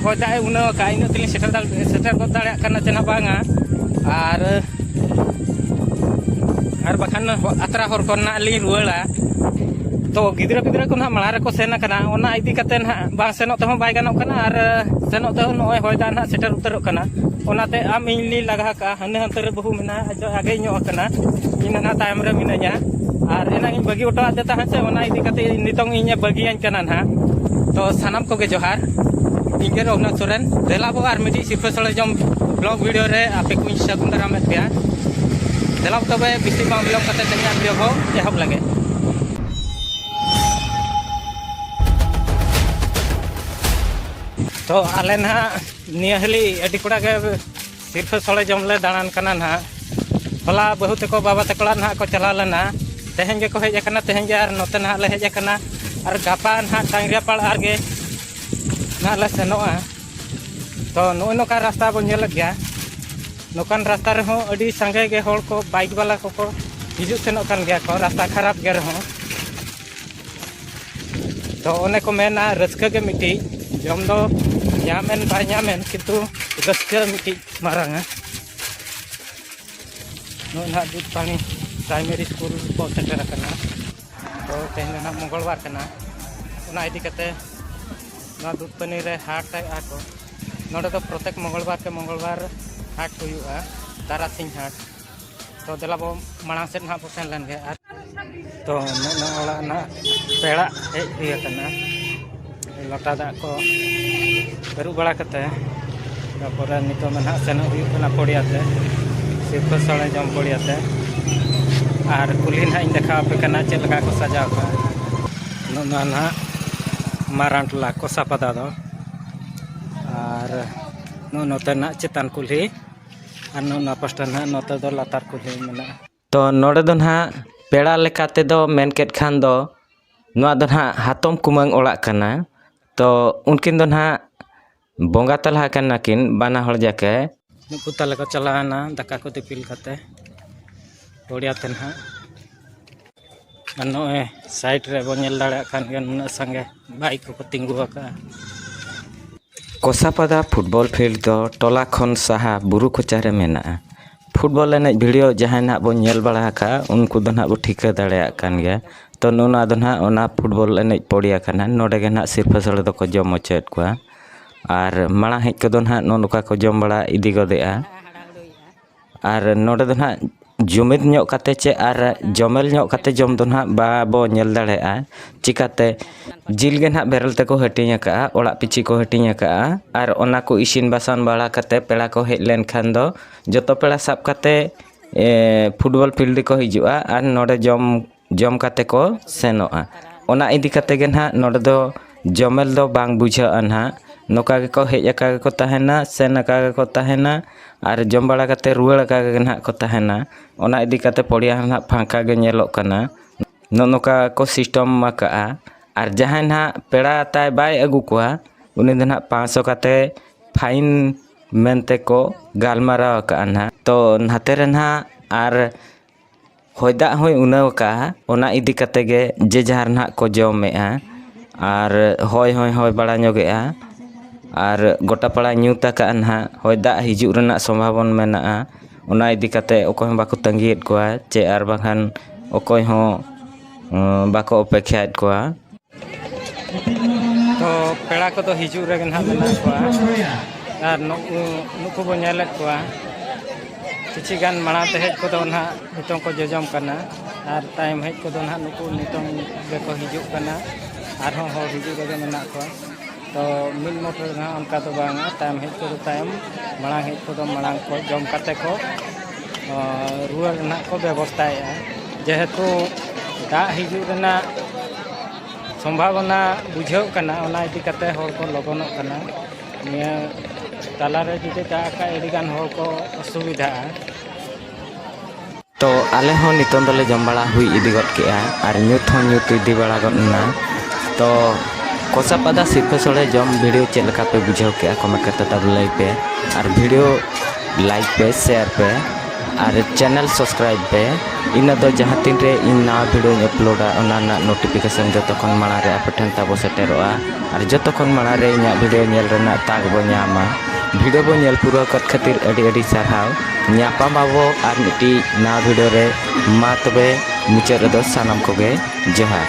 ᱦᱚᱭ ᱫᱟᱜ ᱮ ᱩᱱᱟᱹᱣ ᱟᱠᱟᱫᱼᱟ ᱤᱱᱟᱹᱜ ᱛᱮᱞᱤᱧ ᱥᱮᱴᱮᱨ ᱥᱮᱴᱮᱨ ᱜᱚᱫ ᱫᱟᱲᱮᱭᱟᱜ ᱠᱟᱱᱟ ᱪᱮ ᱱᱟᱦᱟᱜ ᱵᱟᱝᱟ ᱟᱨ ᱟᱨ ᱵᱟᱠᱷᱟᱱ ᱟᱛᱨᱟ ᱦᱚᱨ ᱠᱷᱚᱱ ᱱᱟᱦᱟᱜ ᱞᱤᱧ ᱨᱩᱣᱟᱹᱲᱟ ᱛᱚ ᱜᱤᱫᱽᱨᱟᱹ ᱯᱤᱫᱽᱨᱟᱹ ᱠᱚ ᱱᱟᱦᱟᱜ ᱢᱟᱲᱟᱝ ᱨᱮᱠᱚ ᱥᱮᱱ ᱟᱠᱟᱱᱟ ᱚᱱᱟ ᱤᱫᱤ ᱠᱟᱛᱮ ᱱᱟᱦᱟᱜ ᱵᱟᱝ ᱥᱮᱱᱚᱜ ᱛᱮᱦᱚᱸ ᱵᱟᱭ ᱜᱟᱱᱚᱜ ᱠᱟᱱᱟ ᱟᱨ ᱥᱮᱱᱚᱜ ᱛᱮᱦᱚᱸ ᱱᱚᱜᱼᱚᱭ ᱦᱚᱭ ᱫᱟᱜ ᱱᱟᱦᱟᱜ ᱥᱮᱴᱮᱨ ᱩᱛᱟᱹᱨᱚᱜ ᱠᱟᱱᱟ ᱚᱱᱟᱛᱮ ᱟᱢ ᱤᱧ ᱞᱤᱧ ᱞᱟᱜᱟ ᱠᱟᱜᱼᱟ ᱦᱟᱱᱮ ᱦᱟᱱᱛᱮ ᱨᱮ ᱵᱟᱹᱦᱩ ᱢᱮᱱᱟᱜᱼᱟ ᱟᱡ ᱫᱚ ᱟᱜᱮ ᱧᱚᱜ ᱟᱠᱟᱱᱟ ᱤᱧ ᱱᱟᱦᱟᱜ ᱛᱟᱭᱚᱢ ᱨᱮ ᱢᱤᱱᱟᱹᱧᱟ ᱟᱨ ᱮᱱᱟᱝ ᱤᱧ ᱵᱟᱹᱜᱤ ᱦᱚᱴᱚ ᱟᱫᱮ ᱛᱟᱦᱮᱸᱫ ᱥᱮ ᱚᱱᱟ ᱤᱫᱤ ᱠᱟᱛᱮ ᱱᱤᱛᱚᱝ ᱤᱧᱮ ᱵᱟᱹᱜᱤᱭᱟᱹᱧ ᱠᱟᱱᱟ ᱱᱟᱦᱟᱜ ᱛᱚ ᱥᱟᱱᱟᱢ ᱠᱚᱜᱮ ᱡᱚᱦᱟᱨ ᱤᱧ ᱜᱮ ᱨᱚᱜᱷᱩᱱᱟᱛᱷ ᱥᱚᱨᱮᱱ ᱫᱮᱞᱟ ᱵᱚ ᱟᱨ ᱢᱤᱫᱴᱤᱡ ᱥᱤᱨᱯᱟᱹ ᱥᱚᱲᱮ ᱡᱚᱢ ᱵᱞᱚᱜ ᱵᱷᱤᱰᱤᱭᱳ ᱨᱮ ᱟᱯᱮ ᱠᱚᱧ ᱥᱟᱹᱜᱩᱱ ᱫᱟᱨᱟᱢᱮᱫ ᱯᱮᱭᱟ ᱫᱮᱞᱟ ᱛᱚᱵᱮ ᱵᱮᱥᱤ ᱵᱟᱝ ᱵᱤᱞᱚᱢ ᱠᱟᱛᱮ ᱛᱮᱦᱮᱧᱟᱜ ᱵᱷᱤᱰᱤᱭᱳ ᱵᱚ ᱮᱦᱚᱵ ᱞᱟᱹᱜᱤᱫ ᱛᱚ ᱟᱞᱮ ᱱᱟᱦᱟᱜ ᱱᱤᱭᱟᱹ ᱦᱟᱹᱞᱤ ᱟᱹᱰᱤ ᱠᱚᱲᱟ ᱜᱮ ᱥᱤᱨᱯᱷᱟᱹ ᱥᱚᱲᱮ ᱡᱚᱢ ᱞᱮ ᱫᱟᱬᱟᱱ ᱠᱟᱱᱟ ᱱᱟᱦᱟᱜ ᱦᱚᱞᱟ ᱵᱟᱹᱦᱩ ᱛᱮᱠᱚ ᱵᱟᱵᱟ ᱛᱮᱠᱚ ᱚᱲᱟᱜ ᱱᱟᱦᱟᱜ ᱠᱚ ᱪᱟᱞᱟᱣ ᱞᱮᱱᱟ ᱛᱮᱦᱮᱧ ᱜᱮᱠᱚ ᱦᱮᱡ ᱟᱠᱟᱱᱟ ᱛᱮᱦᱮᱧ ᱜᱮ ᱟᱨ ᱱᱚᱛᱮ ᱱᱟᱦᱟᱜ ᱞᱮ ᱦᱮᱡ ᱟᱠᱟᱱᱟ ᱟᱨ ᱜᱟᱯᱟ ᱱᱟᱦᱟᱜ ᱴᱟᱝᱜᱤᱭᱟᱯᱟᱲ ᱟᱨ ᱜᱮ ᱱᱟᱦᱟᱜ ᱞᱮ ᱥᱮᱱᱚᱜᱼᱟ ᱛᱚ ᱱᱚᱜᱼᱚᱭ ᱱᱚᱝᱠᱟ ᱨᱟᱥᱛᱟ ᱵᱚᱱ ᱧᱮᱞᱮᱫ ᱜᱮᱭᱟ ᱱᱚᱝᱠᱟᱱ ᱨᱟᱥᱛᱟ ᱨᱮᱦᱚᱸ ᱟᱹᱰᱤ ᱥᱟᱸᱜᱮ ᱜᱮ ᱦᱚᱲ ᱠᱚ ᱵᱟᱭᱤᱠ ᱵᱟᱞᱟ ᱠᱚᱠᱚ ᱦᱤᱡᱩᱜ ᱥᱮᱱᱚᱜ ᱠᱟᱱ ᱜᱮᱭᱟ ᱠᱚ ᱨᱟᱥᱛᱟ ᱠᱷᱟᱨᱟᱯ ᱜᱮ ᱨᱮᱦᱚᱸ ᱛᱚ ᱚᱱᱮ ᱠᱚ ᱢᱮᱱᱟ ᱨᱟᱹᱥᱠᱟᱹ ᱜᱮ ᱢᱤᱫᱴᱤᱡ ᱡᱚᱢ ᱫᱚ ᱧᱟᱢᱮᱱ ᱵᱟᱭ ᱧᱟᱢᱮᱱ ᱠᱤᱱᱛᱩ ᱨᱟᱹᱥᱠᱟᱹ ᱢᱤᱫᱴᱤᱡ ᱢᱟᱨᱟᱝᱟ ᱱᱚᱜᱼᱚᱭ ᱱᱟᱦᱟᱜ ᱫᱩᱫ ᱯᱟᱱᱤ ᱯᱨᱟᱭᱢᱟᱨᱤ ᱥᱠᱩᱞ ᱠᱚ ᱥᱮᱴᱮᱨ ᱟᱠᱟᱱᱟ ᱛᱚ ᱛᱮᱦᱮᱧ ᱫᱚ ᱱᱟᱦᱟᱜ ᱢᱚᱝᱜᱚᱞᱵᱟᱨ ᱠᱟᱱᱟ ᱚᱱᱟ ᱤᱫᱤ ᱠᱟᱛᱮ ᱱᱚᱣᱟ ᱫᱩᱫ ᱯᱟᱱᱤ ᱨᱮ ᱦᱟᱴ ᱟᱜᱼᱟ ᱠᱚ ᱱᱚᱰᱮ ᱫᱚ ᱯᱨᱚᱛᱮᱠ ᱢᱚᱝᱜᱚᱞᱵᱟᱨ ᱠᱮ ᱢᱚᱝᱜᱚᱞᱵᱟᱨ ᱦᱟᱴ ᱦᱩᱭᱩᱜᱼᱟ ᱛᱟᱨᱟᱥᱤᱧ ᱦᱟᱴ ᱛᱚ ᱫᱮᱞᱟ ᱵᱚ ᱢᱟᱲᱟᱝ ᱥᱮᱫ ᱱᱟᱦᱟᱜ ᱵᱚ ᱥᱮᱱ ᱞᱮᱱ ᱜᱮ ᱟᱨ ᱛᱚ ᱱᱚᱜᱼᱚ ᱚᱲᱟᱜ ᱱᱟᱦᱟᱜ ᱯᱮᱲᱟ ᱦᱮᱡ ᱦᱩᱭ ᱟᱠᱟᱱᱟ ᱞᱚᱴᱟ ᱫᱟᱜ ᱠᱚ ᱟᱹᱨᱩᱵ ᱵᱟᱲᱟ ᱠᱟᱛᱮ ᱛᱟᱯᱚᱨᱮ ᱱᱤᱛᱚᱜ ᱢᱟ ᱱᱟᱦᱟᱜ ᱥᱮᱱᱚᱜ ᱦᱩᱭᱩᱜ ᱠᱟᱱᱟ ᱯᱚᱲᱤᱭᱟ ᱛᱮ ᱥᱤᱨᱯᱟᱹ ᱥᱚᱲᱮ ᱡᱚᱢ ᱯᱚᱲᱤᱭᱟ ᱛᱮ ᱟᱨ ᱠᱩᱞᱦᱤ ᱱᱟᱦᱟᱜ ᱤᱧ ᱫᱮᱠᱷᱟᱣ ᱟᱯᱮ ᱠᱟᱱᱟ ᱪᱮᱫ ᱞᱮᱠᱟ ᱠᱚ ᱥᱟᱡᱟᱣ ᱠᱟᱜᱼᱟ ᱱᱚᱜᱼᱚ ᱱᱟᱦᱟᱜ ᱢᱟᱨᱟᱝ ᱴᱚᱞᱟ ᱠᱚᱥᱟᱯᱟᱫᱟ ᱫᱚ ᱟᱨ ᱱᱚᱜᱼᱚ ᱱᱚᱛᱮᱱᱟᱜ ᱪᱮᱛᱟᱱ ᱠᱩᱞᱦᱤ ᱟᱨ ᱱᱚᱣᱟ ᱯᱟᱥᱴᱟ ᱱᱟᱦᱟᱜ ᱱᱚᱛᱮ ᱫᱚ ᱞᱟᱛᱟᱨ ᱠᱩᱞᱦᱤ ᱢᱮᱱᱟᱜᱼᱟ ᱛᱚ ᱱᱚᱰᱮ ᱫᱚ ᱱᱟᱦᱟᱜ ᱯᱮᱲᱟ ᱞᱮᱠᱟ ᱛᱮᱫᱚ ᱢᱮᱱ ᱠᱮᱫ ᱠᱷᱟᱱ ᱫᱚ ᱱᱚᱣᱟ ᱫᱚ ᱱᱟᱦᱟᱜ ᱦᱟᱛᱚᱢ ᱠᱩᱢᱟᱹᱝ ᱚᱲᱟᱜ ᱠᱟᱱᱟ ᱛᱚ ᱩᱱᱠᱤᱱ ᱫᱚ ᱱᱟᱦᱟᱜ ᱵᱚᱸᱜᱟ ᱛᱟᱞᱟ ᱠᱟᱱᱟ ᱠᱤᱱ ᱵᱟᱱᱟ ᱦᱚᱲ ᱡᱟᱠᱮ ᱱᱩᱠᱩ ᱛᱟᱞᱮ ᱠᱚ ᱪᱟᱞᱟᱣᱮᱱᱟ ᱫᱟᱠᱟ ᱠᱚ ᱫᱤᱯᱤᱞ ᱠᱟᱛᱮᱫ ᱵᱟᱹᱨᱭᱟᱹᱛᱮ ᱱᱟᱦᱟᱜ ᱟᱨ ᱱᱚᱜᱼᱚᱭ ᱥᱟᱭᱤᱰ ᱨᱮ ᱵᱚᱱ ᱧᱮᱞ ᱫᱟᱲᱮᱭᱟᱜ ᱠᱟᱱ ᱜᱮᱭᱟ ᱱᱩᱱᱟᱹᱜ ᱥᱟᱸᱜᱮ ᱵᱟᱭᱤᱠ ᱠᱚᱠᱚ ᱛᱤᱸᱜᱩ ᱟᱠᱟᱜᱼᱟ ᱠᱚᱥᱟᱯᱟᱫᱟ ᱯᱷᱩᱴᱵᱚᱞ ᱯᱷᱤᱞᱰ ᱫᱚ ᱴᱚᱞᱟ ᱠᱷᱚᱱ ᱥᱟᱦᱟ ᱵᱩᱨᱩ ᱠᱚᱪᱟ ᱨᱮ ᱢᱮᱱᱟᱜᱼᱟ ᱯᱷᱩᱴᱵᱚᱞ ᱮᱱᱮᱡ ᱵᱷᱤᱰᱤᱭᱳ ᱡᱟᱦᱟᱸᱭ ᱱᱟᱦᱟᱜ ᱵᱚᱱ ᱧᱮᱞ ᱵᱟᱲᱟ ᱟᱠᱟᱜᱼᱟ ᱩᱱᱠᱩ ᱫᱚ ᱱᱟᱦᱟᱜ ᱵᱚᱱ ᱴᱷᱤᱠᱟᱹ ᱫᱟᱲᱮᱭᱟᱜ ᱠᱟᱱ ᱜᱮᱭᱟ ᱛᱳ ᱱᱚᱣᱟ ᱫᱚ ᱱᱟᱦᱟᱜ ᱚᱱᱟ ᱯᱷᱩᱴᱵᱚᱞ ᱮᱱᱮᱡ ᱯᱚᱲᱭᱟ ᱠᱟᱱᱟ ᱱᱚᱰᱮ ᱜᱮ ᱱᱟᱦᱟᱜ ᱥᱤᱨᱯᱟᱹ ᱥᱚᱲᱮ ᱫᱚᱠᱚ ᱡᱚᱢ ᱦᱚᱪᱚᱭᱮᱫ ᱠᱚᱣᱟ ᱟᱨ ᱢᱟᱲᱟᱝ ᱦᱮᱡ ᱠᱚᱫᱚ ᱱᱟᱦᱟᱜ ᱱᱚᱜᱼᱚ ᱱᱚᱝᱠᱟ ᱠᱚ ᱡᱚᱢ ᱵᱟᱲᱟ ᱤᱫᱤ ᱜᱚᱫᱮᱜᱼᱟ ᱟᱨ ᱱᱚᱰᱮ ᱫᱚ ᱦᱟᱸᱜ ᱡᱩᱢᱤᱫ ᱧᱚᱜ ᱠᱟᱛᱮᱫ ᱪᱮᱫ ᱟᱨ ᱡᱚᱢᱮᱞ ᱧᱚᱜ ᱠᱟᱛᱮᱫ ᱡᱚᱢ ᱫᱚ ᱦᱟᱸᱜ ᱵᱟᱵᱚ ᱧᱮᱞ ᱫᱟᱲᱮᱭᱟᱜᱼᱟ ᱪᱤᱠᱟᱹᱛᱮ ᱡᱤᱞ ᱜᱮ ᱦᱟᱸᱜ ᱵᱮᱨᱮᱞ ᱛᱮᱠᱚ ᱦᱟᱹᱴᱤᱧ ᱠᱟᱜᱼᱟ ᱚᱲᱟᱜ ᱯᱤᱪᱷᱤ ᱠᱚ ᱦᱟᱹᱴᱤᱧ ᱠᱟᱜᱼᱟ ᱟᱨ ᱚᱱᱟ ᱠᱚ ᱤᱥᱤᱱ ᱵᱟᱥᱟᱝ ᱵᱟᱲᱟ ᱠᱟᱛᱮᱫ ᱯᱮᱲᱟ ᱠᱚ ᱦᱮᱡ ᱞᱮᱱᱠᱷᱟᱱ ᱫᱚ ᱡᱚᱛᱚ ᱯᱮᱲᱟ ᱥᱟᱵ ᱠᱟᱛᱮᱫ ᱯᱷᱩᱴᱵᱚᱞ ᱯᱷᱤᱞᱰ ᱨᱮᱠᱚ ᱦᱤᱡᱩᱜᱼᱟ ᱟᱨ ᱱᱚᱰᱮ ᱡᱚᱢ ᱡᱚᱢ ᱠᱟᱛᱮ ᱠᱚ ᱥᱮᱱᱚᱜᱼᱟ ᱚᱱᱟ ᱤᱫᱤ ᱠᱟᱛᱮ ᱜᱮ ᱱᱟᱦᱟᱜ ᱱᱚᱰᱮ ᱫᱚ ᱡᱚᱢᱮᱞ ᱫᱚ ᱵᱟᱝ ᱵᱩᱡᱷᱟᱹᱜᱼᱟ ᱱᱟᱦᱟᱜ ᱱᱚᱝᱠᱟ ᱜᱮᱠᱚ ᱦᱮᱡ ᱟᱠᱟ ᱜᱮᱠᱚ ᱛᱟᱦᱮᱱᱟ ᱥᱮᱱ ᱟᱠᱟ ᱜᱮᱠᱚ ᱛᱟᱦᱮᱱᱟ ᱟᱨ ᱡᱚᱢ ᱵᱟᱲᱟ ᱠᱟᱛᱮ ᱨᱩᱣᱟᱹᱲ ᱟᱠᱟ ᱜᱮ ᱱᱟᱦᱟᱜ ᱠᱚ ᱛᱟᱦᱮᱱᱟ ᱚᱱᱟ ᱤᱫᱤ ᱠᱟᱛᱮ ᱯᱚᱲᱭᱟ ᱦᱚᱸ ᱱᱟᱦᱟᱜ ᱯᱷᱟᱸᱠᱟ ᱜᱮ ᱧᱮᱞᱚᱜ ᱠᱟᱱᱟ ᱱᱚᱜᱼᱚ ᱱᱚᱝᱠᱟ ᱠᱚ ᱥᱤᱥᱴᱚᱢ ᱟᱠᱟᱜᱼᱟ ᱟᱨ ᱡᱟᱦᱟᱸᱭ ᱱᱟᱦᱟᱜ ᱯᱮᱲᱟ ᱛᱟᱭ ᱵᱟᱭ ᱟᱹᱜᱩ ᱠᱚᱣᱟ ᱩᱱᱤ ᱫᱚ ᱱᱟᱦᱟᱜ ᱯᱟᱸᱥᱥᱚ ᱠᱟᱛᱮ ᱯᱷᱟᱭᱤᱱ ᱢᱮᱱᱛᱮ ᱠᱚ ᱜᱟᱞᱢᱟᱨᱟᱣ ᱟᱠᱟᱜᱼᱟ ᱱᱟᱦᱟᱜ ᱛᱚ ᱱᱟᱛᱮ ᱨᱮ ᱱᱟᱦᱟᱜ ᱟᱨ ᱦᱚᱭ ᱫᱟᱜ ᱦᱚᱸᱭ ᱩᱱᱟᱹᱣ ᱟᱠᱟᱫᱼᱟ ᱚᱱᱟ ᱤᱫᱤ ᱠᱟᱛᱮᱫ ᱜᱮ ᱡᱮ ᱡᱟᱦᱟᱨ ᱱᱟᱦᱟᱜ ᱠᱚ ᱡᱚᱢᱮᱫᱼᱟ ᱟᱨ ᱦᱚᱭ ᱦᱚᱸᱭ ᱦᱚᱭ ᱵᱟᱲᱟ ᱧᱚᱜᱮᱫᱼᱟ ᱟᱨ ᱜᱳᱴᱟ ᱯᱟᱲᱟᱭ ᱧᱩᱛ ᱟᱠᱟᱫᱼᱟ ᱱᱟᱦᱟᱜ ᱦᱚᱭ ᱫᱟᱜ ᱦᱤᱡᱩᱜ ᱨᱮᱱᱟᱜ ᱥᱚᱢᱵᱷᱟᱵᱚᱱᱟ ᱢᱮᱱᱟᱜᱼᱟ ᱚᱱᱟ ᱤᱫᱤ ᱠᱟᱛᱮᱫ ᱚᱠᱚᱭ ᱦᱚᱸ ᱵᱟᱠᱚ ᱛᱟᱹᱜᱤᱭᱮᱫ ᱠᱚᱣᱟ ᱪᱮ ᱟᱨ ᱵᱟᱝᱠᱷᱟᱱ ᱚᱠᱚᱭ ᱦᱚᱸ ᱵᱟᱠᱚ ᱚᱯᱮᱠᱠᱷᱟᱭᱮᱫ ᱠᱚᱣᱟ ᱛᱚ ᱯᱮᱲᱟ ᱠᱚᱫᱚ ᱦᱤᱡᱩᱜ ᱨᱮᱜᱮ ᱱᱟᱦᱟᱜ ᱢᱮᱱᱟᱜ ᱠᱚᱣᱟ ᱟᱨ ᱱᱩᱠᱩ ᱱᱩᱠᱩ ᱵᱚᱱ ᱧᱮᱞᱮᱫ ᱠᱚᱣᱟ ᱠᱤᱪᱷᱩ ᱜᱟᱱ ᱢᱟᱲᱟᱝ ᱛᱮ ᱦᱮᱡ ᱠᱚᱫᱚ ᱱᱟᱦᱟᱜ ᱱᱤᱛᱚᱝ ᱠᱚ ᱡᱚᱡᱚᱢ ᱠᱟᱱᱟ ᱟᱨ ᱛᱟᱭᱚᱢ ᱦᱮᱡ ᱠᱚᱫᱚ ᱱᱟᱦᱟᱜ ᱱᱩᱠᱩ ᱱᱤᱛᱚᱝ ᱜᱮᱠᱚ ᱦᱤᱡᱩᱜ ᱠᱟᱱᱟ ᱟᱨᱦᱚᱸ ᱦᱚᱲ ᱦᱤᱡᱩᱜ ᱨᱮᱜᱮ ᱢᱮᱱᱟᱜ ᱠᱚᱣᱟ ᱛᱚ ᱢᱤᱫ ᱢᱚᱴ ᱨᱮ ᱱᱟᱦᱟᱜ ᱚᱱᱠᱟ ᱫᱚ ᱵᱟᱝᱟ ᱛᱟᱭᱚᱢ ᱦᱮᱡ ᱠᱚᱫᱚ ᱛᱟᱭᱚᱢ ᱢᱟᱲᱟᱝ ᱦᱮᱡ ᱠᱚᱫᱚ ᱢᱟᱲᱟᱝ ᱠᱚ ᱡᱚᱢ ᱠᱟᱛᱮ ᱠᱚ ᱨᱩᱣᱟᱹᱲ ᱨᱮᱱᱟᱜ ᱠᱚ ᱵᱮᱵᱚᱥᱛᱟᱭᱮᱫᱼᱟ ᱡᱮᱦᱮᱛᱩ ᱫᱟᱜ ᱦᱤᱡᱩᱜ ᱨᱮᱱᱟᱜ ᱥᱚᱢᱵᱷᱟᱵᱚᱱᱟ ᱵᱩᱡᱷᱟᱹᱜ ᱠᱟᱱᱟ ᱚᱱᱟ ᱤᱫᱤ ᱠᱟᱛᱮ ᱦᱚᱲ ᱠᱚ ᱞᱚᱜᱚᱱᱚᱜ ᱠᱟᱱᱟ ᱱᱤᱭᱟᱹ ᱛᱟᱞᱟᱨᱮ ᱡᱩᱫᱤ ᱫᱟᱜ ᱠᱷᱟᱡ ᱟᱹᱰᱤᱜᱟᱱ ᱦᱚᱲ ᱠᱚ ᱚᱥᱩᱵᱤᱫᱷᱟᱜᱼᱟ ᱛᱚ ᱟᱞᱮ ᱦᱚᱸ ᱱᱤᱛᱚᱝ ᱫᱚᱞᱮ ᱡᱚᱢ ᱵᱟᱲᱟ ᱦᱩᱭ ᱤᱫᱤ ᱜᱚᱫ ᱠᱮᱫᱼᱟ ᱟᱨ ᱧᱩᱛ ᱦᱚᱸ ᱧᱩᱛ ᱤᱫᱤ ᱵᱟᱲᱟ ᱜᱚᱫ ᱮᱱᱟ ᱛᱚ ᱠᱚᱥᱟ ᱯᱟᱫᱟ ᱥᱤᱨᱯᱟᱹ ᱥᱚᱲᱮ ᱡᱚᱢ ᱵᱷᱤᱰᱤᱭᱳ ᱪᱮᱫ ᱞᱮᱠᱟ ᱯᱮ ᱵᱩᱡᱷᱟᱹᱣ ᱠᱮᱫᱼᱟ ᱠᱚᱢᱮᱱᱴ ᱠᱟᱛᱮᱫ ᱛᱟᱵᱚ ᱞᱟᱹᱭ ᱯᱮ ᱟᱨ ᱵᱷᱤᱰᱤᱭᱳ ᱞᱟᱭᱤᱠ ᱯᱮ ᱥᱮᱭᱟᱨ ᱯᱮ ᱟᱨ ᱪᱮᱱᱮᱞ ᱥᱟᱵᱥᱠᱨᱟᱭᱤᱵᱽ ᱯᱮ ᱤᱱᱟᱹ ᱫᱚ ᱡᱟᱦᱟᱸ ᱛᱤᱱ ᱨᱮ ᱤᱧ ᱱᱟᱣᱟ ᱵᱷᱤᱰᱤᱭᱳᱧ ᱟᱯᱞᱳᱰᱟ ᱚᱱᱟ ᱨᱮᱱᱟᱜ ᱱᱳᱴᱤᱯᱷᱤᱠᱮᱥᱚᱱ ᱡᱚᱛᱚ ᱠᱷᱚᱱ ᱢᱟᱲᱟᱝ ᱨᱮ ᱟᱯᱮ ᱴᱷᱮᱱ ᱛᱟᱵᱚ ᱥᱮᱴᱮᱨᱚᱜᱼᱟ ᱟᱨ ᱡᱚᱛᱚ ᱠᱷᱚᱱ ᱢᱟᱲᱟᱝ ᱨᱮ ᱤᱧᱟᱹᱜ ᱵᱷᱤᱰᱤᱭᱳ ᱧᱮᱞ ᱨᱮᱱᱟᱜ ᱛᱟᱠ ᱵᱚᱱ ᱧᱟᱢᱟ ᱵᱷᱤᱰᱤᱭᱳ ᱵᱚᱱ ᱧᱮᱞ ᱯᱩᱨᱟᱹᱣ ᱠᱮᱫ ᱠᱷᱟᱹᱛᱤᱨ ᱟᱹᱰᱤ ᱟᱹᱰᱤ ᱥᱟᱨᱦᱟᱣ ᱧᱟᱯᱟᱢ ᱟᱵᱚ ᱟᱨ ᱢᱤᱫᱴᱤᱡ ᱱᱟᱣᱟ ᱵᱷᱤᱰᱤᱭᱳ ᱨᱮ ᱢᱟ ᱛᱚᱵᱮ ᱢᱩᱪᱟᱹᱫ ᱨᱮᱫᱚ ᱥᱟᱱᱟᱢ ᱠᱚᱜᱮ ᱡᱚᱦᱟᱨ